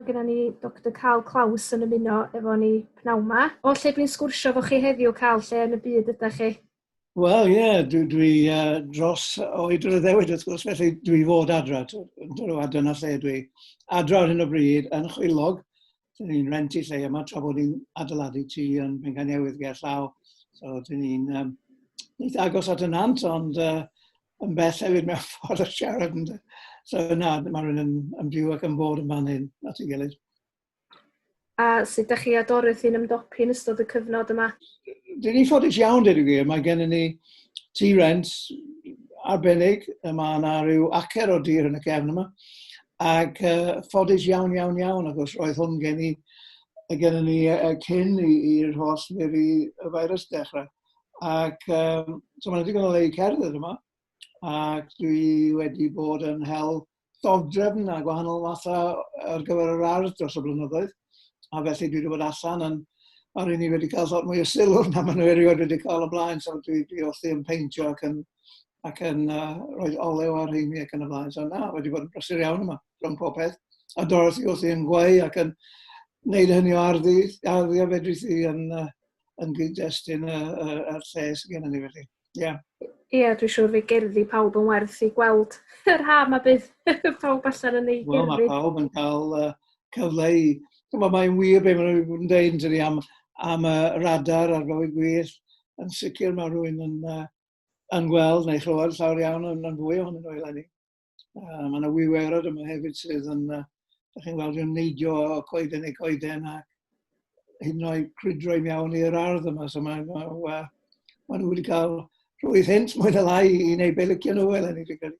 Mae gennym ni Doctor Karl Klaus yn ymuno efo ni pnawn 'ma. O lle dwi'n sgwrsio efo chi heddiw, Karl, lle yn y byd ydych chi? Wel, ie, yeah, dwi, dwi uh, dros oed yr addewid wrth gwrs, felly dwi fod adra, a dyna lle dwi adra ar hyn o bryd yn chwilog, dyn ni'n rent i lle yma tra bod ni'n adeiladu ti yn Bengan Newydd ger llaw, so dyn ni'n um, eitha agos at y nant, ond uh, yn bell hefyd mewn ffordd o siarad. And, so na, mae rhywun yn, yn byw ac yn bod yn fan hyn, at ei gilydd. A sut ydych chi a Dorothy yn ymdopi yn ystod y cyfnod yma? Dyn ni ffodus iawn, dydw i. Mae gen ni ti rent arbennig, y mae yna rhyw acer o dir yn y cefn yma. Ac uh, ffodus iawn, iawn, iawn, ac os roedd hwn gen i, gen ni uh, cyn i'r holl neu y virus dechrau. Ac um, so mae'n ddigon o le i cerdded yma. Ac dwi wedi bod yn hel dodrefn a gwahanol mathau ar gyfer yr ardd dros y blynyddoedd. A felly dwi wedi bod allan yn a rydyn ni wedi cael lot mwy o sylw na maen nhw erioed wedi cael o blaen, so dwi, dwi wrthi yn peintio ac yn, ac yn uh, rhoi olew ar rheini ac yn y blaen. So na, wedi bod yn brysur iawn yma, rhwng pob peth. A Dorothy wrthi yn gweu ac yn wneud hynny o arddu, arddu a fedrith i yn, uh, yn gyd-destun y, y, y lle sydd gennym ni felly. Ie. Yeah. Ie, yeah, dwi'n siŵr fe gerddi pawb yn werth i gweld yr ha mae bydd pawb allan yn ei gerddi. Wel, mae pawb yn cael uh, cyfle i... Mae mae'n wir beth maen nhw'n dweud yn am, am y radar ar fywyd gwych. Yn sicr mae rhywun yn, uh, yn gweld neu chlywed llawer iawn yn, yn fwy ohonyn nhw eleni. Uh, mae yna wiwerod yma hefyd sydd yn, uh, da chi'n weld yn neidio o coeden i coeden a hyd yn oed crwydro i mewn i'r ardd yma. So mae, ma, ma, ma nhw wedi cael rhwydd hint mwy na lai i wneud be licio nhw fel ennig fi'n credu.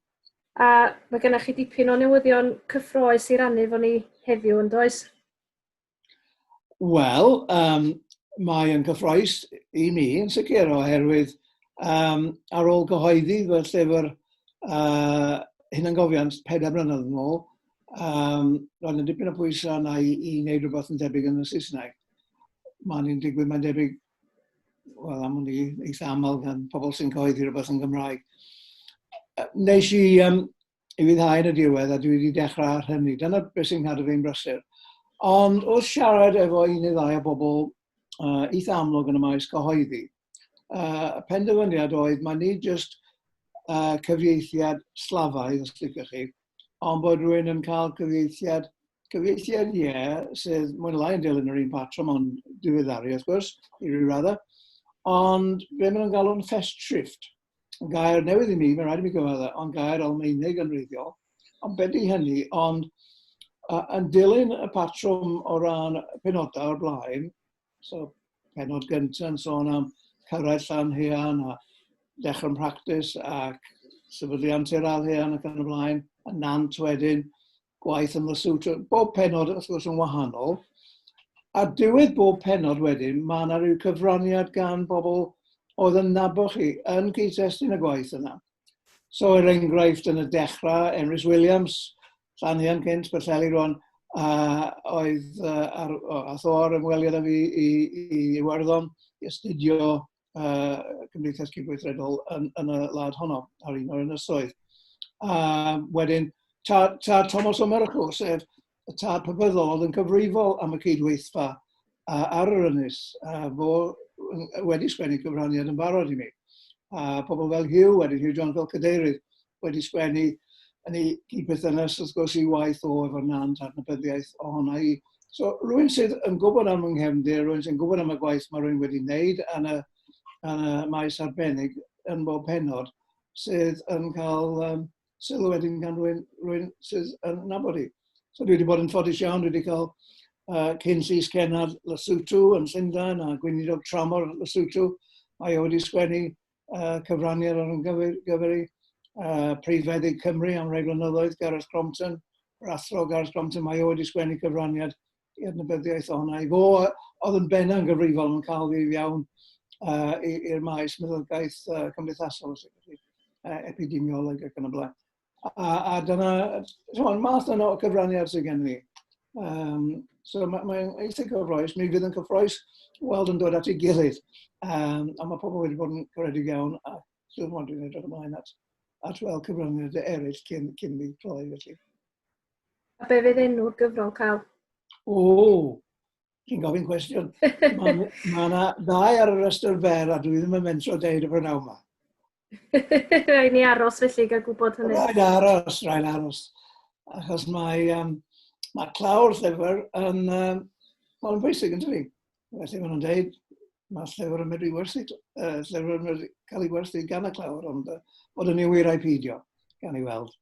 A mae gennych chi dipyn o newyddion cyffroes i rannu fo ni heddiw yn does? Wel, um, mae yn gyffroes i mi yn sicr oherwydd um, ar ôl gyhoeddi fy llyfr uh, hunangofiant pedair blynedd yn ôl, um, roedd yn dipyn o bwysau yna i, i wneud rhywbeth yn debyg yn y Saesneg. Mae'n ni'n digwydd, mae'n debyg, wel am hwn i eitha aml gan pobl sy'n cyhoeddi rhywbeth yn Gymraeg. Nes i um, i fi ddau yn y diwedd, a dwi wedi dechrau ar hynny. Dyna beth sy'n cadw fi'n brysur. Ond wrth siarad efo un neu ddau o bobl uh, eitha amlwg yn y maes cyhoeddi, uh, y penderfyniad oedd mae ni jyst uh, cyfieithiad slafaidd, os licwch chi, ond bod rhywun yn cael cyfieithiad, cyfieithiad ie, yeah, sydd mwyn lai yn dilyn yr un patrwm ond diweddaru, wrth gwrs, i ryw raddau, ond be maen nhw'n galw'n fest shift. gair newydd i mi, mae'n rhaid i mi gyfadda, ond gair Almeinig yn reiddiol, ond beth i hynny, ond uh, yn dilyn y patrwm o ran penodau o'r blaen, so penod gyntaf yn sôn am cyrraedd llan hean a dechrau'n practis ac sefydliant i'r al hean ac yn y blaen, y nant wedyn, gwaith yn Lesotho. Trwy bob penod, wrth gwrs, yn wahanol. A diwedd bob penod wedyn, mae yna rhyw cyfraniad gan bobl oedd yn nabod chi yn cyd-testun y gwaith yna. So, er enghraifft, yn y dechrau, Emrys Williams, Llanian cynt, Berthelli rwan, a oedd uh, ar, o, ath o ar ymweliad â fi i, i Iwerddon i astudio uh, Cymdeithas Cydweithredol yn, yn y lad honno ar un o'r ynysoedd. A wedyn, tad, tad Thomas O'Myracl, sef y tad pybyddol oedd yn cyfrifol am y cydweithfa uh, ar yr ynys, uh, fo wedi sgwennu cyfraniad yn barod i mi. A pobl fel Hugh, wedyn Hugh John fel cadeirydd, wedi sgwennu yn ei gyd-berthynas wrth gwrs i waith o efo Nant a'r nabyddiaeth ohona i. So rwy'n sydd yn gwybod am yng nghefndir, rwy'n sy'n gwybod am y gwaith mae rwy'n wedi wneud yn y, yn y maes arbennig yn bob penod sydd yn cael um, sylw wedyn gan rwy'n rwy'n sydd yn nabod i. So dwi wedi bod yn ffodus iawn, dwi wedi cael uh, cyn llys cenad Lesotho yn Llundain a gweinidog tramor Lesotho. Mae o wedi sgwennu uh, cyfraniad ar ymgyferi uh, Prif Feddyg Cymru am rai blynyddoedd, Gareth Crompton, yr athro Gareth Crompton, mae o wedi sgwennu cyfraniad i adnabyddiaeth o'na. I fo, oedd yn benna yn gyfrifol yn cael ddydd iawn uh, i'r maes meddygaeth uh, cymdeithasol, uh, epidemiolog ac yn y blaen. A, a dyna, chymod, math yna o gyfraniad sydd gen i. Um, so mae'n mae eitha cyffroes, mi fydd yn cyffroes weld yn dod at ei gilydd. Um, a mae pobl wedi bod yn goredig iawn a dwi'n mwyn dwi'n edrych ymlaen at, at weld cyfraniad eraill cyn, cyn mi cloi felly. A be fydd enw'r gyfrol cael? O, chi'n gofyn cwestiwn. Mae yna ma ddau ar y rhestr fer a dwi ddim yn mentro deud y prynawn yma. Rhaid ni aros felly gael gwybod hynny. Rhaid aros, rhaid aros. Achos mae, um, mae clawr llyfr yn um, mae'n bwysig yn dyfu. Felly maen nhw'n dweud, mae llyfr yn medru werthu, uh, llyfr yn medru cael ei werthu gan y clawr, ond uh, bod yn ei wir ai peidio, gan ei weld.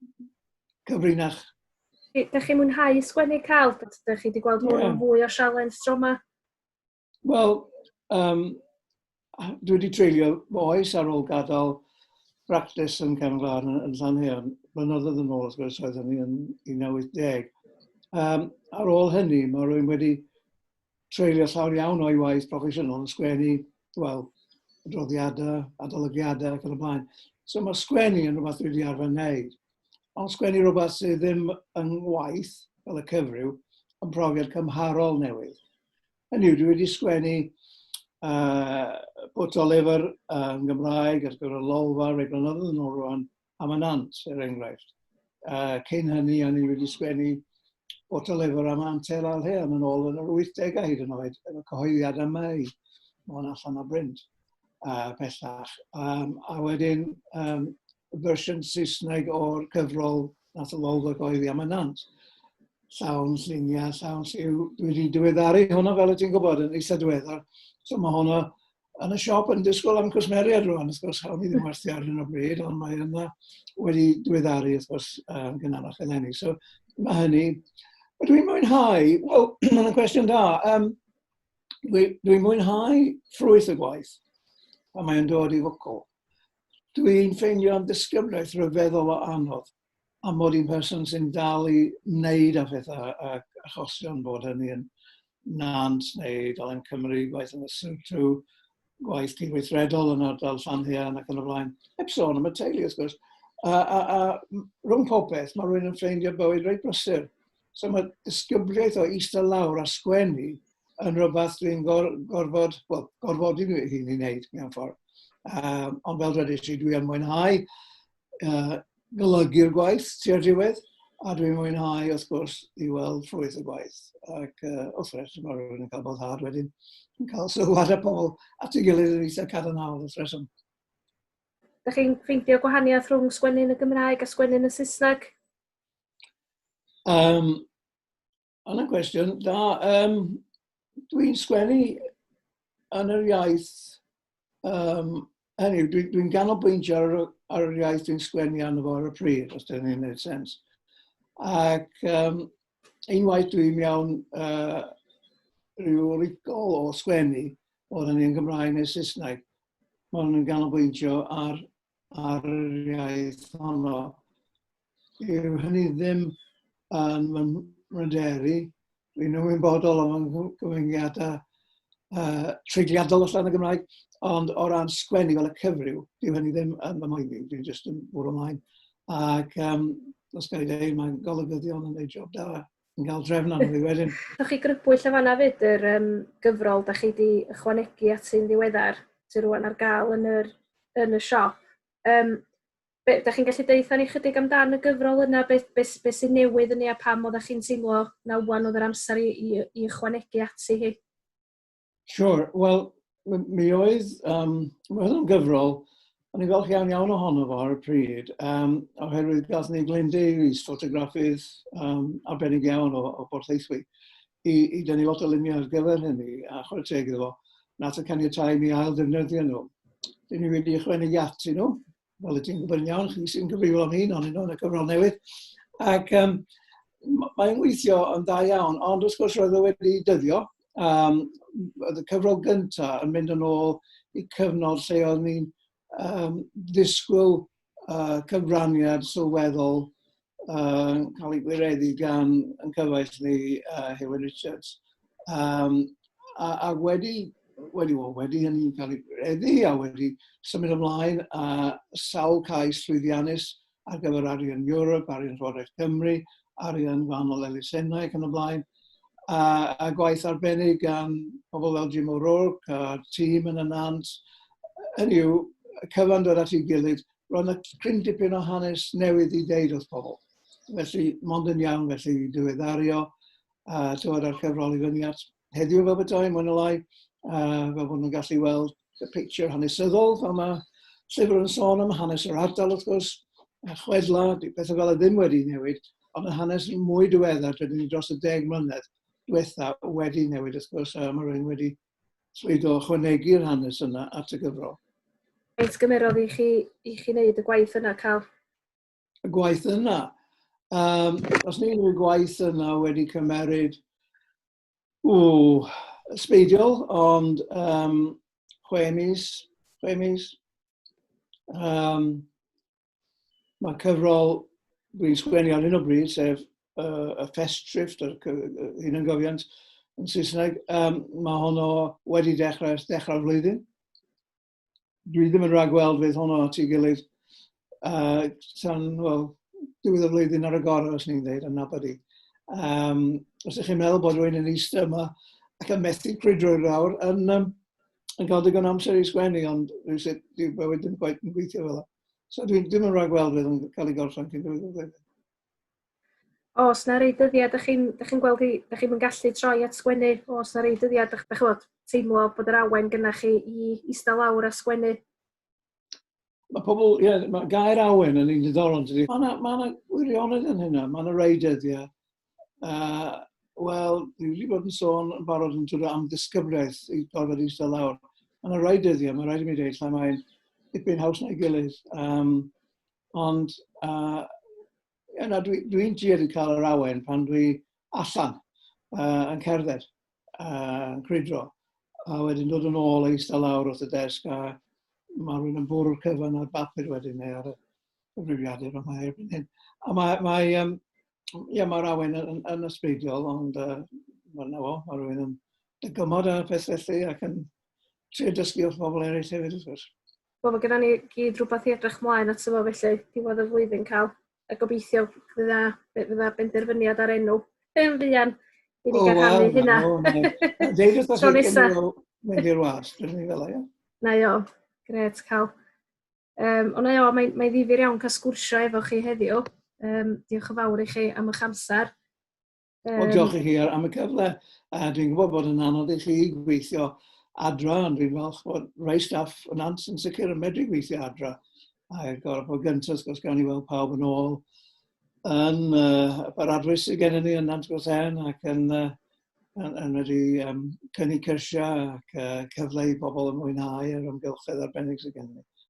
Cyfrinach. Dych chi'n mwynhau sgwennu cael, dych chi wedi gweld hwn yeah. yn fwy o sialens tro yma? Wel, um, dwi wedi treulio fy oes ar ôl gadael bractis yn Canolfan yn, yn Llanheon. Blynyddoedd yn ôl, wrth gwrs, oedd hynny yn 1980. Um, ar ôl hynny, mae rwy'n wedi treulio llawn iawn o'i waith proffesiynol yn sgwennu, wel, adroddiadau, adolygiadau ac yn y blaen. So mae sgwennu yn rhywbeth dwi wedi arfer wneud. Ond sgwennu rhywbeth sydd ddim yn waith, fel y cyfryw, yn profiad cymharol newydd. Hynny yw, dwi wedi sgwennu uh, bwt o lyfr uh, yn Gymraeg ar gyfer y lolfa rei blynyddoedd yn ôl rwan am y nant, er enghraifft. Uh, cyn hynny, o'n i wedi sgwennu bwt o lyfr am Antel Alheon yn ôl yn yr 80au hyd yn oed, efo cyhoeddiad yma i, o'n allan o brint uh, pellach. Um, a wedyn, um, fersiwn Saesneg o'r cyfrol Nath y wawr ac oedd i am ynant. Llawn lluniau, llawn lliw. Dwi wedi diweddaru hwnna fel y ti'n gwybod yn eitha diweddar. So mae hwnna yn y siop yn disgwyl am cwsmeriad rwan, wrth gwrs, hawn i ddim werthu ar hyn o bryd, ond mae yna wedi diweddaru, wrth gwrs, um, gynharach eleni. So mae hynny. Mae dwi'n mwynhau, wel, mae'n cwestiwn da, um, dwi'n dwi mwynhau ffrwyth y gwaith, a mae'n dod i fwcl. Dwi'n ffeindio am ddisgyblaeth rhyfeddol o anodd a mod i'n person sy'n dal i wneud a phethau ac achosion bod hynny yn Nant neu Dolen Cymru, gwaith yn y Syltw, gwaith cydweithredol yn ardal Llanhian ac yn y flaen. Heb sôn am y teulu, wrth gwrs. A, a, a rhwng popeth, mae rwy'n yn ffeindio bywyd reit brysur. So mae disgybliaeth o eistedd lawr a sgwennu yn rhywbeth dwi'n gor, gorfod, well, gorfodi fi hun i wneud mewn ffordd. Um, ond fel rydych chi, dwi'n mwynhau uh, golygu'r gwaith tua'r diwedd, a dwi'n mwynhau, wrth gwrs, i weld ffrwyth y gwaith. Ac uh, wrth reswm ar rhywun yn cael bod hard wedyn, yn cael sylwad y pobl at ei gilydd yn eitha cadarnhaol wrth reswm. Dych chi'n ffeindio gwahaniaeth rhwng sgwennu'n y Gymraeg a sgwennu'n y Saesneg? Um, Ond y cwestiwn, da, um, dwi'n sgwennu yn yr iaith, um, hynny, dwi'n dwi, ganolbwyntio ar, ar yr iaith dwi'n sgwennu arno fo ar y pryd, os dyn ni'n gwneud sens. Ac um, unwaith dwi'n iawn uh, rhyw rigol o sgwennu, oedd hynny yn Gymraeg neu Saesneg, mae hwn yn ganolbwyntio ar ar yr iaith honno. Yw hynny ddim yn fy mryderu. Dwi'n ymwybodol o'n gyfyngiadau uh, treigliadol allan y Gymraeg, ond o ran sgwennu fel y cyfryw, dyw hynny ddim yn fy moeddi, dwi'n jyst yn bwrw ymlaen. Ac um, os gael ei dweud, mae'n golygyddion yn ei job da. yn cael drefn arno fi wedyn. Rhowch chi grybwyll yn fanna fyd yr um, gyfrol da chi wedi ychwanegu at sy'n ddiweddar sy'n rwan ar gael yn, yr, yn y siop. Um, be, da chi'n gallu deitha ni chydig amdan y gyfrol yna, beth be, be sy'n newydd yn ei a pam oeddech chi'n teimlo na wan oedd yr amser i, i, i ychwanegu ati hi? Siwr. Wel, mi oedd, um, mi oedd yn gyfrol, o'n i'n falch iawn iawn ohono fo ar y pryd, um, oherwydd gath ni Glyn Davies, ffotograffydd um, arbennig iawn o, o Bort Eithwy, i, i dynnu lot o luniau ar gyfer hynny, a chwarae teg iddo fo, nath y caniatau mi ail ddefnyddio nhw. Dyn ni wedi ychwanegu atyn nhw, Wel, ti'n gwybod yn iawn, chi sy'n gyfrifol am hyn, ond yn y cyfrol newydd. Ac um, mae'n weithio yn dda iawn, ond wrth gwrs roedd o wedi dyddio. Um, y cyfrol gyntaf yn mynd yn ôl i cyfnod lle oedd ni'n um, ddisgwyl uh, cyfraniad sylweddol uh, cael ei gwireddu gan yn cyfaill ni uh, Hewyn Richards. Um, a, a wedi, wedi, well, wedi hynny'n cael ei gwireddu a wedi symud ymlaen a sawl cais llwyddiannus ar gyfer arian Europe, arian Llywodraeth Cymru, arian gwahanol elusennau ac yn y blaen, a, a gwaith arbennig gan pobl fel Jim O'Rourke a tîm yn y nant, hynny yw, cyfan dod at ei gilydd roedd yna cryn dipyn o hanes newydd i ddeud wrth pobl. Felly, mond yn iawn felly i ddiweddario a tywed ar cyfrol i fyny at heddiw fel bethau, mwyn y lai, a fel bod nhw'n gallu weld y picture hanesyddol, fel mae llyfr yn sôn am hanes yr ardal wrth gwrs, a chwedla, di pethau fel y ddim wedi newid, ond y hanes mwy diweddar, dydyn ni dros y deg mlynedd diwetha wedi newid wrth gwrs, a mae rhywun wedi swydd o ychwanegu'r hanes yna at y gyfrol. Faint gymerodd i chi, i chi wneud y gwaith yna, Cal? Y gwaith yna? Um, os ni'n unrhyw gwaith yna wedi cymeryd o sbeidiol, ond um, chwe mis, chwe mis. Um, Mae cyfrol dwi'n sgwennu ar hyn o bryd, sef uh, y Festrift, yr hyn yn gofiant yn Saesneg, um, mae honno wedi dechrau ers dechrau'r flwyddyn. Dwi ddim yn rhagweld fydd honno at ei gilydd uh, tan, well, diwedd y flwyddyn ar y gorau, os ni'n dweud, yn nabod i. Um, os ydych chi'n meddwl bod rwy'n yn eistedd yma ac yn methu crwydro'r awr, yn, um, yn cael digon amser i sgwennu, ond rhywsut dyw bywyd ddim gwaith yn gweithio fel yna. So dwi'n dim yn rhaid gweld beth yn cael ei gorffen cyn gwneud y ddeddf. Os na rei dyddiad, ydych chi'n chi gweld i, ydych chi'n gallu troi at sgwennu, os na rei dyddiad, ydych chi'n teimlo bod yr awen gynnach chi i eistedd lawr a sgwennu? Mae pobl, ie, yeah, mae gair awen yn un diddorol, dydy. Mae yna ma wirionedd yn hynna, mae yna rei dyddiau Uh, Wel, dwi wedi bod yn sôn yn barod yn dod am ddisgyfraeth i gorfod eistedd lawr. Mae'n rhai dyddiau, mae'n rhaid i mi ddeud, lle mae'n dipyn haws na'i gilydd. Um, ond, uh, yeah, na, dwi'n dwi, dwi tuedd i cael yr awen pan dwi allan uh, yn cerdded, uh, yn crydro, a wedyn dod yn ôl eistedd lawr wrth y desg a mae rhywun yn bwrw'r cyfan ar bapur wedyn neu ar y cyfrifiadur yma erbyn hyn. A mae, mae, um, ia, mae'r awen yn, yn, yn ysbeidiol, ond uh, mae'n nawr, mae rhywun yn dygymod ar y peth felly ac yn trio dysgu wrth bobl eraill hefyd, wrth gwrs. Wel, mae gennym ni gyd rhywbeth i edrych mlaen at yma felly, diwedd y flwyddyn cael, a gobeithio fydda, fydda benderfyniad ar enw yn fuan i ni gael rhannu hynna. O, na, na. Deud wrth os wedi mynd i'r was, dwi'n ni fel o, ia? Na, jo, gret, cael Um, ond eio, mae, mae ddifur iawn cael sgwrsio efo chi heddiw. Um, diolch yn fawr i chi am eich amser. Um, o, diolch i chi am y cyfle. Uh, dwi'n gwybod bod yn anodd i chi gweithio adra, ond dwi'n falch bod rhai staff yn ans yn sicr yn medru gweithio adra. A gorfod bod gyntaf, gos gan i weld pawb yn ôl yn uh, yr adwys sydd gennym ni yn Nant Gwrthau'n ac yn, uh, yn, yn medru um, cynnig cyrsiau ac uh, cyfle i bobl yn mwynhau yr ymgylchedd arbennig sydd gennym ni.